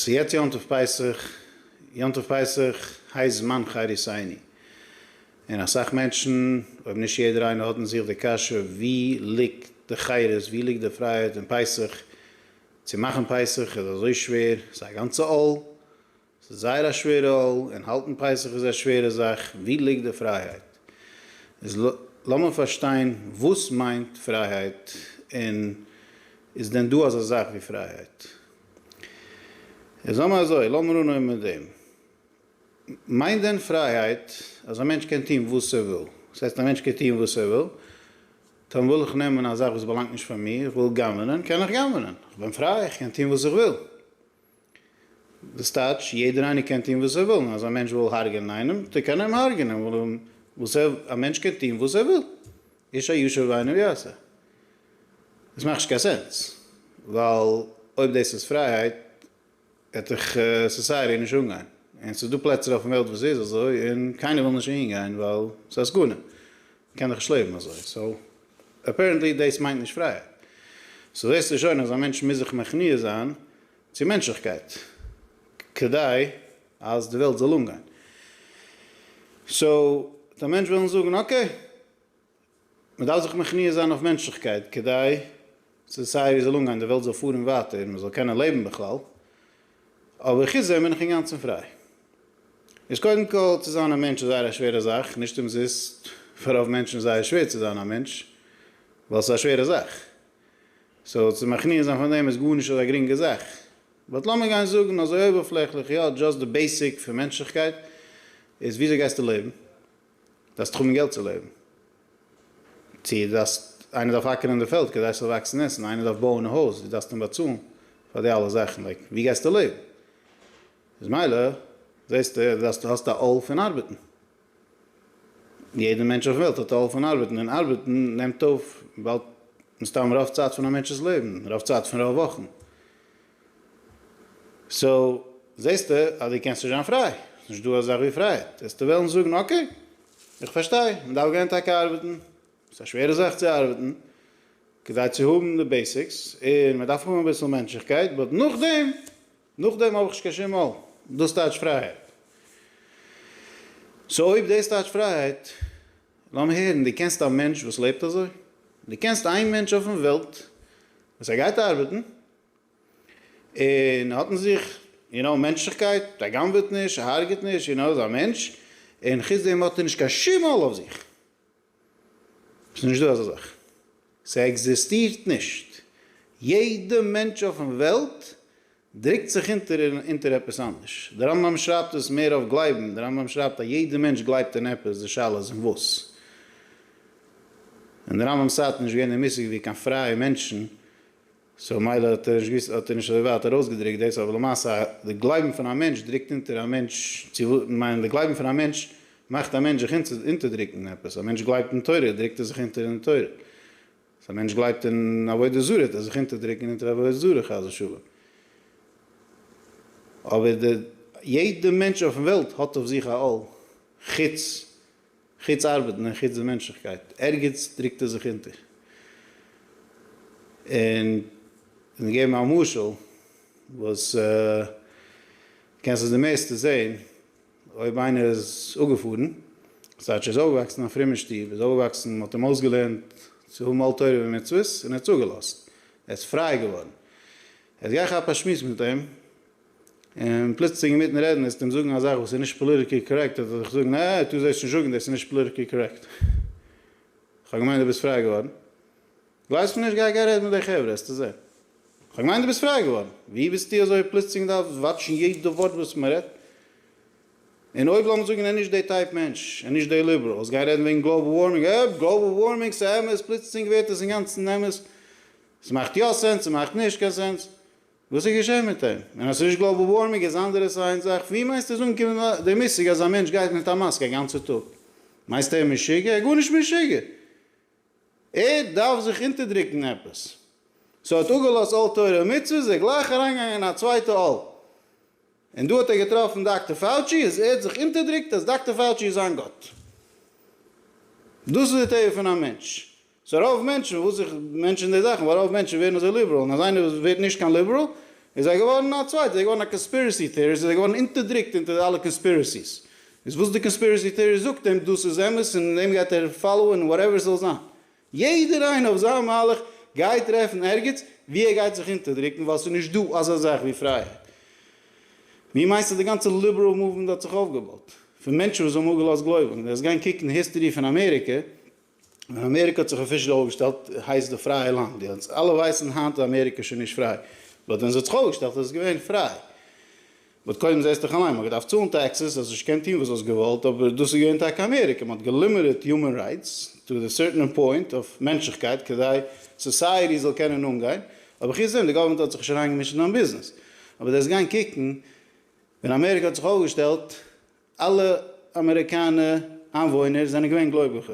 ס'יעצט יום טוב פסח, יום טוב פסח הייסט זמן חרית עיני, און אסאך מענטשן, אויב נישט יעדער איינער האט אין זיך די קשיא ווי ליגט די חירות, ווי ליגט די פרייהייט אין פסח, צו מאכן פסח איז אזוי שווער, ס'איז א גאנצע עול, ס'איז זייער א שווערע עול, און האלטן פסח איז א שווערע זאך, ווי ליגט די פרייהייט? איז לאמיר פארשטיין וואס מיינט פרייהייט, און איז דען דא אזא זאך ווי פרייהייט? און זאג מיר אזוי, לאמיר אנהויבן מיט דעם, מיינט דען פרייהייט אז א מענטש קען טון וואס ער וויל? וואס הייסט א מענטש קען טון וואס ער וויל? טאמער וויל איך נעמען א זאך וואס באלאנגט נישט פאר מיר, איך וויל גנב'נען, קען איך גנב'נען, איך בין פריי, איך קען טון וואס איך וויל. דאס טייטש, יעדער איינער קען טון וואס ער וויל, און אז א מענטש וויל הרג'ענען איינעם, טאר קען ער אים הרג'ענען, ווייל א מענטש קען טון וואס ער וויל. איש הישר בעיניו יעשה. עס מאכט נישט קיין סענס, ווייל אויב דאס איז פרייהייט העט דאך סאסייעטי נישט אנגיין, און ס'איז דא פלעצער אויפן וועלט וואס ס'איז אזוי און קיינער וויל נישט אהין גיין ווייל ס'איז א סכנה, מ'קען דאך נישט לעבן אזוי, סאו אפערענטלי דאס מיינט נישט פרייהייט. סאו זעסטו שוין אז א מענטש מוז זיך מכניע זיין צו מענטשליכקייט כדי אז די וועלט זאל אנגיין. סאו וועט א מענטש וועלן זאגן אקעי, מען דארף זיך מכניע זיין אויף מענטשליכקייט כדי ס'זאל סיי ווי זאל אנגיין, די וועלט זאל פארן ווייטער און מען זאל קענען לעבן בכלל, אבער חוץ דעם בין איך אינגאנצן פריי. איז קודם כל צו זיין א מענטש איז זייער א שווערע זאך, נישט אומזיסט פאר רוב מענטשן איז זייער שווער צו זיין א מענטש, ווייל ס'איז א שווערע זאך. סאו צו מכניע זיין פון דעם איז גארנישט אזא גרינגע זאך. באט לאמיר גיין זאגן אזוי אויבערפלעכליך יא, דזשאסט די בעיסיק פון מענטשליכקייט איז וויאזוי גייסטו לעבן? דארפסט האבן געלט צו לעבן? צו דו דארפסט, איינער דארף אקערן די פעלד כדי ס'זאל וואקסן עסן, איינער דארף בויען א הויז, דו דארפסט אים באצאלן פאר די אלע זאכן, לייק ווי גייסטו לעבן? איז מילא זעסטו דו דארפסט, האסט א עול פון ארבעטן. יעדער מענטש אויף וועלט האט א עול פון ארבעטן, און ארבעטן נעמט אויף באלד מסתם רוב צייט פון א מענטש'ס לעבן, רוב צייט פון רוב וואכן. סאו זעסטו אז דו קענסט נישט זיין פריי, ס'איז נישט דא א זאך ווי פרייהייט, וועסטו וועלן זאגן אקעי, איך פארשטיי, מען דארף גיין טאקע ארבעטן, ס'איז א שווערע זאך צו ארבעטן, כדי צו האבן די בעסיקס, און מען דארף האבן אביסל מענטשליכקייט, באט נאכדעם. נאכדעם האב איך נישט קיין שום מויל. דאס טייטש פרייהייט. סאו אויב דאס טייטש פרייהייט, לאמיר הערן, דו קענסט א מענטש וואס לעבט אזוי? דו קענסט איין מענטש אויפן וועלט וואס ער גייט ארבעטן, און ער האט אין זיך, יו נאו, מענטשליכקייט, ער גנב'עט נישט, ער הרג'עט נישט, יו נאו, איז א מענטש, און חוץ דעם האט ער נישט קיין שום עול אויף זיך. ס'איז נישט דא אזא זאך, ס'עקזיסטירט נישט, יעדע מענטש אויפן וועלט דרוקט זיך אונטער אונטער עפעס אנדערש, די רמב ם שרייבט עס מער אויף גלייבן, די רמב ם שרייבט אז יעדע מענטש גלייבט אין עפעס, די שאלה איז אין וואס, אין די רמב ם'ס צייט איז נישט געווען די מושג ווי קיין פרייע מענטשן, סאו מילא האט ער נישט געוואוסט האט ער נישט אזוי ווייט ארויסגעדריקט דאס אבער למעשה די גלייבן פון א מענטש דריקט אונטער א מענטש צו כ'מיין די גלייבן פון א מענטש מאכט א מענטש זיך אונטערדריקן עפעס א מענטש גלייבט אין תורה דריקט ער זיך אונטער אין תורה אז א מענטש גלייבט אין עבודה זרה וועט ער זיך אונטערדריקן אונטער עבודה זרה חס ושלום אבער די יעדע מענטש אויפן וועלט האט אויף זיך א עול חוץ חוץ ארבעטן און חוץ די מענטשליכקייט, ערגעץ דרוקט ער זיך אונטער. און כ'וועל געבן א משל וואס דו קענסט עס די מערסטע זען, אויב איינער איז אפגעפארן, ס'הייט שוין איז אויפגעוואקסן אין א פרומע שטוב, איז אויפגעוואקסן, מ'האט אים אויסגעלערנט צו האבן עול תורה ומצוות, און ער האט צוגעלאזט, ער איז פריי געווארן. יעצט גיי כאפ א שמועס מיט אים, און פלוצלינג אינמיטן רעדן וועסטו אים זאגן א זאך וואס איז נישט פאליטיקלי קארעקט וועט ער דיך זאגן עה עה טו זעסט נישט זאגן דאס איז נישט פאליטיקלי קארעקט כ'האב געמיינט דו ביסט פריי געווארן ווייסט פון נישט גיי גיי רעד מיט די חברה העסטו זען כ'האב געמיינט דו ביסט פריי געווארן ווי ביסטו אזוי פלוצלינג דארף וואטשן יעדע ווארט וואס מ'רעדט און אויב לאמיר זאגן ער איז נישט די טייפ מענטש ער איז נישט די ליבעראלס גייען רעדן וועגן גלאבעל ווארמינג אה גלאבעל ווארמינג ס'אמת פלוצלינג ווערט עס אינגאנצן אמת ס'מאכט יא סענס ס'מאכט נישט קיין סענס וואס איז געשען מיט אים? און אז ס'איז נישט גלאבאל ווארמינג איז אנדערע סיינס זאך, ווי מיינסטו איז אנגעקומען די מושג אז א מענטש גייט מיט א מאסק א גאנצע טאג? מיינסט ער איז משוגע? ער איז גארנישט משוגע! ער דארף זיך אונטערדרוקן עפעס. סאו ער האט אפגעלאזט אל תורה ומצוות, איז ער גלייך אריינגעגאנגען אין א צווייטע אל. און דא האט ער געטראפן דאקטער פאוטשי, איז ער האט זיך אונטערדרוקט אז דאקטער פאוטשי איז זיין גאט. דאס איז די טבע פון א מענטש. סאו רוב מענטשן וואס איך מענטשען די זאכן ווייל רוב מענטשן ווערן אזוי ליבעראל און אז איינער וואס ווערט נישט קיין ליבעראל איז ער געווארן א צווייטע איז ער געווארן א קאנספירעסי טעאריסט איז ער געווארן אונטערדרוקט אונטער אלע קאנספירעסיס איז וואס די קאנספירעסי טעאריסט זאגט אים דאס איז אמת און דעם גייט ער פאלאוען און וואטעווער ס'זאל זיין יעדער איינער אויף זיין מהלך גייט טרעפן ערגעץ ווי ער גייט זיך אונטערדרוקן ווייל ס'איז נישט דא אזא זאך ווי פרייהייט ווי מיינסטו די גאנצע ליבעראל מאוומענט האט זיך אויפגעבויט? פון מענטשן וואס האבן אפגעלאזט גלויבונג? דו זאלסט גיין קוקן היסטערי פון אמעריקע. ווען אמעריקע האט זיך אפישעל אויפגעשטעלט הייסט די פרייע לאנד די אונז אלע ווייסן היינט איז אמעריקע שוין נישט פריי באט ווען זי האט זיך אויפגעשטעלט איז עס געווען פריי באט קודם זעסט דיך אליין מען האט געדארפט צאלן טעקסעס האסט נישט געקענט טוהן וואס האסט געוואלט אבער דאס איז געווען טאקע אמעריקע מען האט געלימיטעד יומען רייטס טו די סערטענער פוינט אויף מענטשליכקייט כדי סאסייעטי זאל קענען אנגיין אבער חוץ דעם די גאווערמענט האט זיך נישט אריינגעמישט אין דיין ביזנעס אבער דו האסט געקענט קוקן ווען אמעריקע האט זיך אויפגעשטעלט אלע אמעריקאנע איינוואוינער זענען געווען גלויביכע,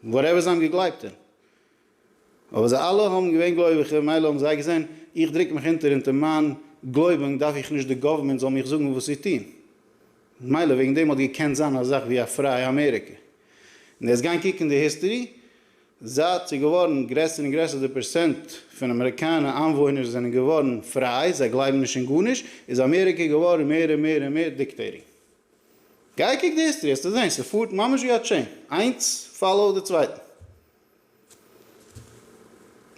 וואטעווער זיי האבן געגלייבט אין, אבער זיי אלע האבן געווען גלויביכע, מילא האבן זיי געזען, איך דרוק מיך אונטער אונטער מיין גלויבונג דארף איך נישט די גאווערמענט זאל מיך זאגן וואס צו טון, מילא וועגן דעם האט געקענט זיין א זאך ווי א פרייע אמעריקע, און דאס גיין קוקן די היסטערי זייט ס'איז געווארן גרעסער און גרעסער די פערסענט פון אמעריקאנע איינוואוינער זענען געווארן פריי, זיי גלייבן נישט אין גארנישט, איז אמעריקע געווארן מער און מער און מער דיקטעיטינג. גיי קוק די היסטערי העסטו זען, ס'פארט ממש ווי א טשעין, איינס פאלאו די צווייטן.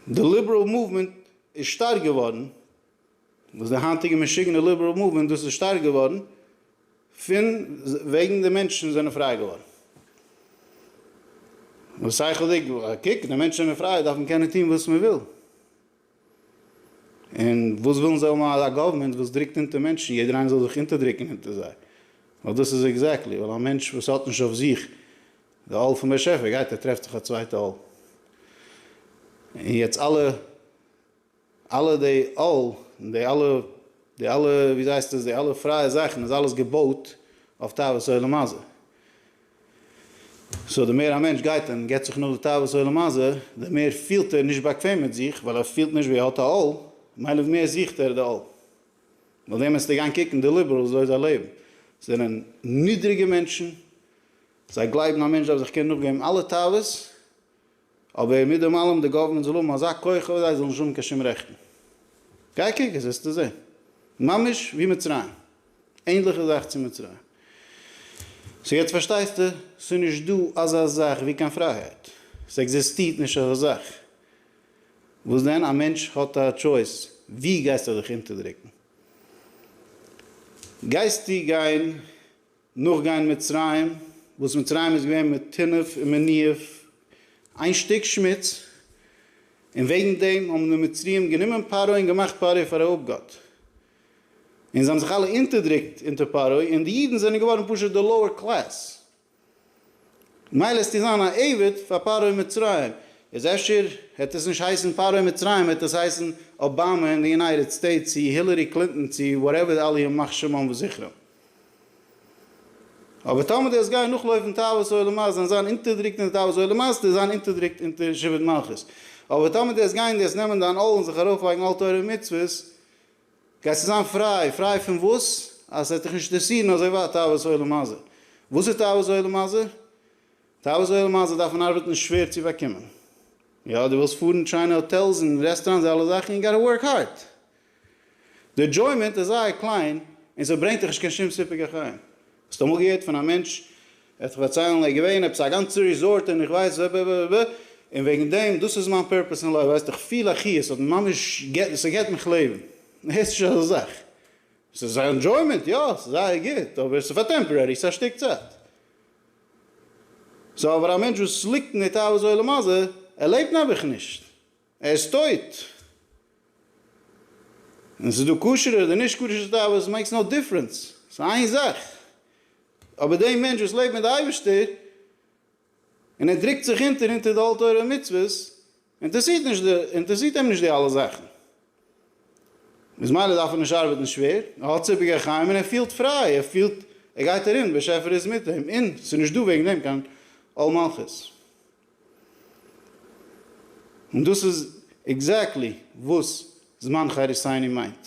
די ליבעראל מאוומענט איז שטארק געווארן וואס די היינטיגע משוגענע ליבעראל מאוומענט דאס איז שטארק געווארן פון וועגן די מענטשן זענען פריי געווארן. וואס שכל'דיג, קוק די מענטשן זענען פריי דארף מען קענען טון וואס מען וויל. און וואס ווילן זיי האבן א גאווערמענט וואס דרוקט אונטער מענטשן, יעדער איינער זאל זיך אונטערדרוקן אונטער זיי. ווייל דאס איז עקזעקטלי, ווייל א מענטש וואס האט נישט אויף זיך די עול פון באשעפער גייט ער טרעפט זיך א צווייטע עול. און יעצט אלע. אלע די אל און די אלע די אלע ווי זייסט עס די אלע פרייע זאכן איז אלעס געבויט אויף תאוות עולם הזה. סאו די מער א מענטש גייט און גיבט זיך נאך די תאוות עולם הזה די מער פילט ער נישט באקוועם מיט זיך ווייל ער פילט נישט ווי ער האט א אל מילא ווי מער זוכט ער די אל. נאך דעם עסטו גיין קוקן די ליבערלס וויאזוי זיי לעבן זענען נידריגע מענטשן זיי גלייבן א מענטש דארף זיך קענען נאכגעבן אלע תאוות אבער מיט דעם אלעם די גאווערמענט זאל האבן אזא כח אויף זיי זאלן נישט האבן קיין שום רעכטן. גיי קוק עס וועסטו זען. ממש ווי מצרים. ענדליכע זאך צו מצרים. סאו יעצט פארשטייסטו? סאיז נישט דא אזא זאך ווי קיין פרייהייט. ס'עקזיסטירט נישט אזא זאך. וואס דען? א מענטש האט א טשויס. ווי גייסטו דיך אונטערדרוקן? גייסטו גיין נאכגיין מצרים, וואס מצרים איז געווען מיט טינוף און מניאוף איין שטיק שמוץ, און וועגן דעם האבן די מצריים גענומען פרעה און געמאכט פרעה פאר א אפגאט, און זיי האבן זיך אלע אונטערדרוקט אונטער פרעה, און די אידן זענען געווארן פשוט די לאוער קלעס, מילא עסטו זיין א עבד פאר פרעה מצרים, איז אפשר העט עס נישט הייסן פרעה מצרים העט עס הייסן אבאמא אין די יונייטעד סטעיטס צי הילערי קלינטאן צי וואטעווער אללה ימח שמם וזכרם. אבער טאמער די האסט גייען נאכלויפן תאוות עולם אז און זיין אונטערדריקט אין די תאוות עולם אז די זיין אונטערדריקט אונטער שבט מלכות אבער טאמער די האסט גייען די האסט נעמען דיין עול און זיך ארויפלייגן אויף תורה און מצוות גייסטו זיין פריי, פריי פון וואס? אז ס'וועט דיך נישט אינטערסירן אזוי ווייט תאוות עולם הזה. וואס איז תאוות עולם הזה? תאוות עולם הזה דארף מען ארבעטן שווער צו באקומען. יא די ווילסט פארן שיינע האטעלס און רעסטאראנטס די אלע זאכן יו גאטע ווארק הארד. די עדזשוימענט איז זייער קליין און סע ברענגט דיך נישט קיין שום סיפוק החיים. האסט אמאל געהערט פון א מענטש, ער האט דיך פארציילן ער איז געווען עפעס א גאנצע ריזארט און איך ווייס ב ב ב ב און וועגן דעם דאס איז מיין פערפעס אין לייף ווייסט איך פיל א חיות ס'האט מיר ממש געט סע געט מיך לעבן. הערסט נישט אזא זאך. ס'איז א ענדזשוימענט יא ס'איז זייער גוט אבער ס'איז פאר טעמפארערי ס'איז א שטיק צייט. סאו אבער א מענטש וואס ליגט אין די תאוות עולם הזה ער לעבט נעבעך נישט. ער איז טויט. און ס'איז דא כשר'ע אדער נישט כשר'ע תאוות, עס מעיקס נאו דיפרענס, ס'איז איין זאך. אבער דעי מענטש וואס לעבט מיט די אייבערשטער, און ער דרוקט זיך אונטער אונטער די עול תורה ומצוות, אינטערסירט נישט די, אינטערסירט אים נישט די אלע זאכן. איז מילא דארף ער נישט ארבעטן שווער, ער האט זיווג החיים און ער פילט פריי, ער פילט, ער גייט ארום, באשעפער איז מיט אים, און ס'איז נישט דא וועגן דעם קיין עול מלכות. און דאס איז עקזעקטלי וואס זמן חריסיני מיינט.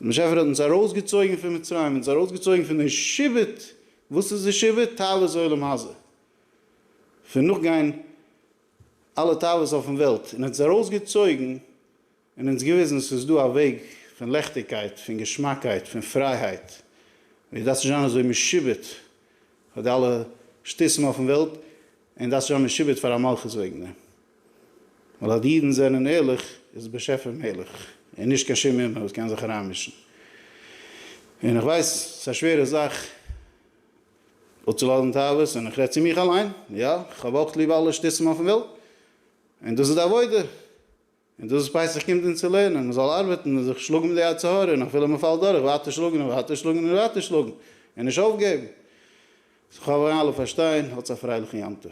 דער באשעפער האט אונז ארויסגעצויגן פון מצרים, אונז ארויסגעצויגן פון די שיבוט, וואס איז די שיבוט? תאוות עולם הזה, פון נאכגיין אלע תאוות אויפן וועלט, און ער האט אונז ארויסגעצויגן, און אונז געוויזן ס'איז דא א וועג פון לעכטיגקייט, פון געשמאקייט, פון פרייהייט, ווי עס דארף נישט זיין אזוי משועבד פאר די אלע שטותים אויפן וועלט, און דארף נישט זיין משועבד פאר א מלכות וועגן דעם, ווייל אז די אידן זענען ערליך איז דער באשעפער מלך, און נישט קיין שום אומן וואס קען זיך אריינמישן. און איך ווייס ס'איז א שווערע זאך אפצולאזן תאוות, און איך רעד צו מיך אליין, יא, איך האב אויך ליב אלע שטותים אויפן וועלט, און דאס איז די עבודה, און דאס איז פסח קומט אונז צו לערנען, מען זאל ארבעטן און זיך שלאגן מיט די יצר הרע, און אפילו מען פאלט דורך, ווייטער שלאגן און ווייטער שלאגן און ווייטער שלאגן, און נישט אויפגעבן. כ'האף אייך אלע פארשטייען, האטס א פרייליכן יום טוב.